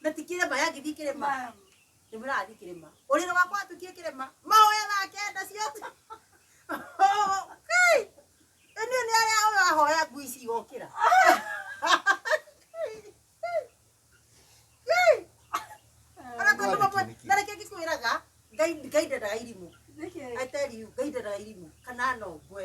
na ti kĩrĩma yagĩthiĩ kĩrĩma nĩ mũrathiĩ kĩrĩma ũrĩrĩ wakwa watuĩkire kĩrĩma mahoya thake nda ciothe Kai! ĩnĩ nĩ arĩa ũyũ ahoya ngui ici igokĩra Kai! Ona tondũ mamwe- na reke ngĩkwĩraga ngai ngai ndendaga irimũ I tell you, ngai ndendaga irimũ kana nongwe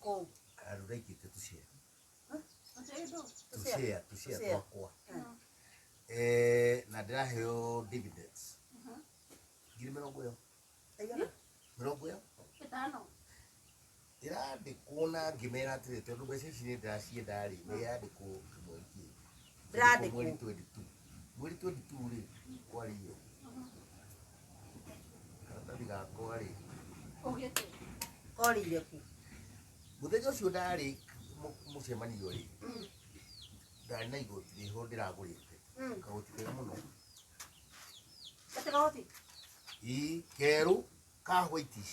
kũu karura ingĩte tũcea Tũtĩndũ. Tũcea. tũcea tũcea Tũcea. twakwa Mm. Eh, na ndĩraheo dividends Mhm. ngiri mĩrongo ĩyo Aigana? mĩrongo ĩyo Ĩtano. ĩrandĩkwo na ngĩmera atĩrĩ tondũ mbeca ici nĩ ndĩracienda rĩ nĩ yandĩkwo kĩmwe kĩngĩ ndĩrandĩkwo mweri 22 mweri 22 rĩ kwario karatathi gakwa rĩ korire ku mũthenya ũcio ndarĩ mũ- mũcemanio rĩ ndarĩ na igoti rĩho ndĩragũrĩte Mm. kagoti kega mũno gatagoti ii kerũ ka whitish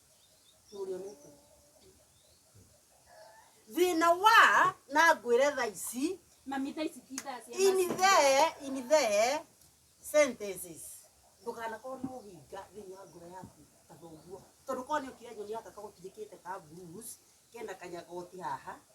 thina wa na ngwire tha ici Mami tha ici ti thaa cia in mathako. the in the sentences ndukanakorwo na ũhinga thĩinĩ wa ngoro yaku ta thoguo tondũ korwo nĩ ũkire nyoni yaka kagotirĩkĩte ka blues kena kanyagoti haha